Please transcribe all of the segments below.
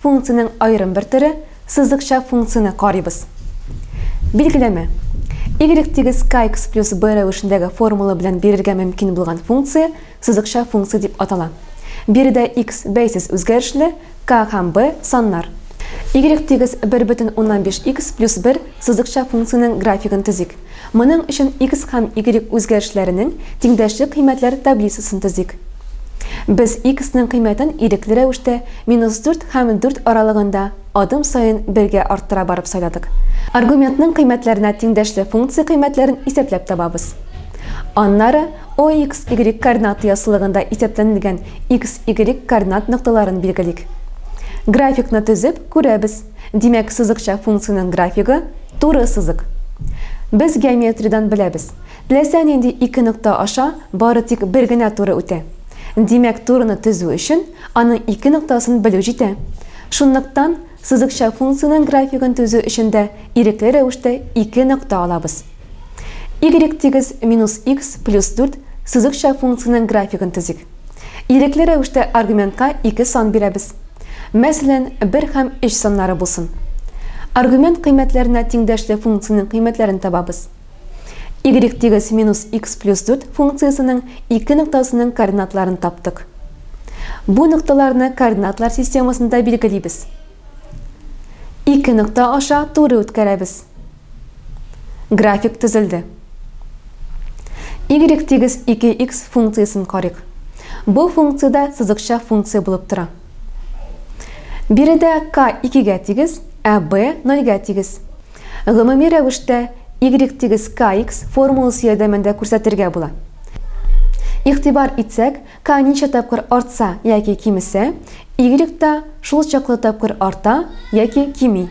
Функциянең аерым бер төре, сызыкча функцияне карыйбыз. Билгеләмә. Y тигез kx плюс b рәвешендәге формула белән бирергә мөмкин булган функция сызыкча функция дип атала. Биредә x бәйсез үзгәрешле, k һәм b саннар. Y тигез бер бөтен уннан биш x плюс бер сызыкча функциянең графигын төзик. Моның өчен X һәм Y үзгәрешләренең тиңдәшлек кыйммәтләр таблицасын төзик. Без X ның кыйммәтен ирекле рәвештә минус дүрт һәм дүрт аралыгында адым саен бергә арттыра барып сайладык. Аргументның кыйммәтләренә тиңдәшле функция кыйммәтләрен исәпләп табабыз. Аннары OX, Y координаты яссылыгында исәпләнелгән X, Y координат нокталарын билгелик. Графикны төзеп, күрәбез. Димәк, сызыкча функциянең графигы, туры сызык. Без геометриядән беләбез, теләсә нинди ике нокта аша бары тик бер генә туры үтә. Димәк, турыны төзү өчен аның ике ноктасын белү җитә. Шунлыктан, сызыкча функциянең графигын төзү өчен дә ирекле рәвештә ике нокта алабыз. Y тигез минус икс плюс дүрт сызыкча функциянең графигын төзик. Ирекле рәвештә аргументка ике сан бирәбез. Мәсәлән, бер һәм өч саннары булсын. Аргумент кыйммәтләренә тиңдәшле функциянең кыйммәтләрен табабыз. Y тигез минус x плюс дүрт функциясенең ике ноктасының координатларын таптык. Бу нокталарны координатлар системасында билгелибез. Ике нокта аша туры үткәрәбез. График төзелде. Y тигез 2x функциясен карыйк. Бу функциядә сызыкча функция булып тора. Биредә k 2-гә тигез, ә b 0-гә тигез. Гомуми рәвештә y тигез kx формуласы ярдәмендә күрсәтергә була. Игътибар итсәк, К ничә тапкыр артса яки кимесә, Y та шул чаклы тапкыр арта яки кими.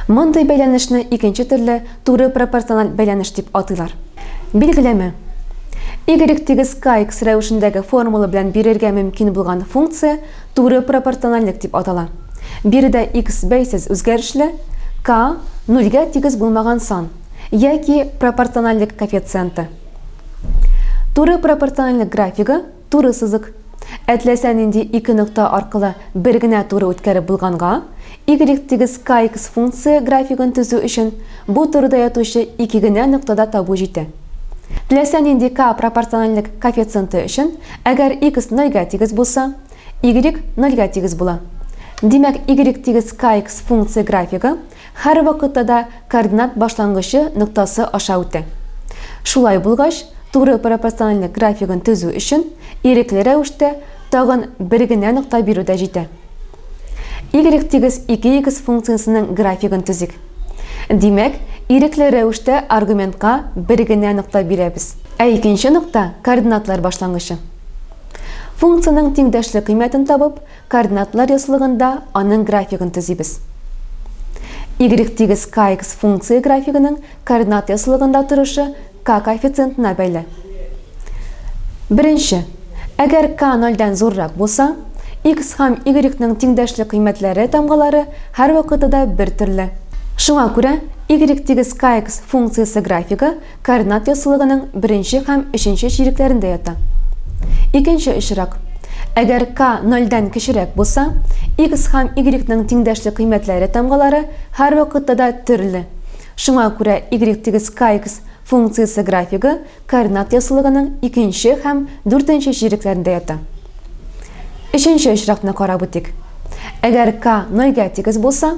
Мондый бәйләнешне икенче төрле туры пропорциональ бәйләнеш дип атыйлар. Билгеләмә. Y тигез kx рәвешендәге формула белән бирергә мөмкин булган функция туры пропорциональлек дип атала. Биредә x бәйсез үзгәрешле, k, нулгә тигез булмаган сан, яки пропорциональлек коэффициенты. Туры пропорциональлек графигы туры сызык. Әтләсә нинди ике нокта аркылы бер генә туры үткәреп булганга, y тигез kx функция графигын төзү өчен бу турыда ятучы ике генә ноктада табу җитә. Теләсә нинди k пропорциональлек коэффициенты өчен, әгәр x нольгә тигез булса, y нольгә тигез була. Димәк, y тигез kx функция графигы Һәр вакытта да координат башлангычы ноктасы аша үтә. Шулай булгач, туры пропорциональлек графигын төзү өчен ирекле рәвештә тагын бер генә нокта бирү дә җитә. Y тигез 2х функциясенең графигын төзик. Димәк, ирекле рәвештә аргументка бер генә нокта бирәбез. Ә икенче нокта координатлар башлангычы. Функциянең тиңдәшле кыйммәтен табып, Координатлар ряслыгында аның графигын төзибез. Y-тигез kx функция графигының координат ряслыгында торышы k коэффициентына бәйле. Беренче. Әгәр k нольдән зуррак булса, x һәм y-ның тиңдәшле кыйммәтләре тамгалары һәрвакытыда бертөрле. Шуңа күрә Y-тигез kx функциясе графигы Карнак яссылыгының беренче һәм өченче чирекләрендә ята. Икенче очрак. Әгәр k нольдән кечерәк булса, x һәм y ның тиңдәшлек кыйммәтләре тамгалары һәрвакытта да төрле. Шуңа күрә y-kx функциясе графигы Карнак яссылыгының икенче һәм дүртенче чирекләрендә ята. Өченче очракны карап үтик. Әгәр k нольгә тигез булса,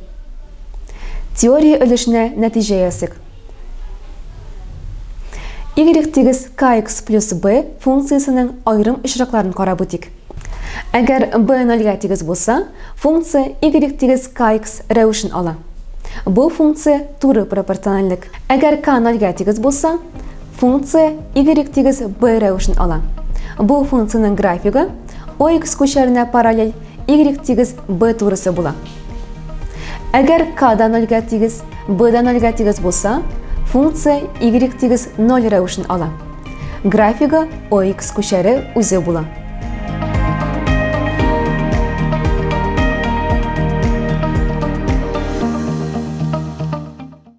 Теория өлешенә нәтиҗә ясыйк. Y тигез kx плюс b функциясенең аерым очракларын карап үтик. Әгәр b нольгә тигез булса, функция y тигез kx рәвешен ала. Бу функция туры пропорциональлек. Әгәр k нольгә тигез булса, функция y тигез b рәвешен ала. Бу функциянең графигы ox күчәренә параллель Y тигез B турысы була. Әгәр K да 0 га тигез, B да 0 га тигез булса, функция Y тигез 0 рәвешен ала. Графига OX күчәре үзе була.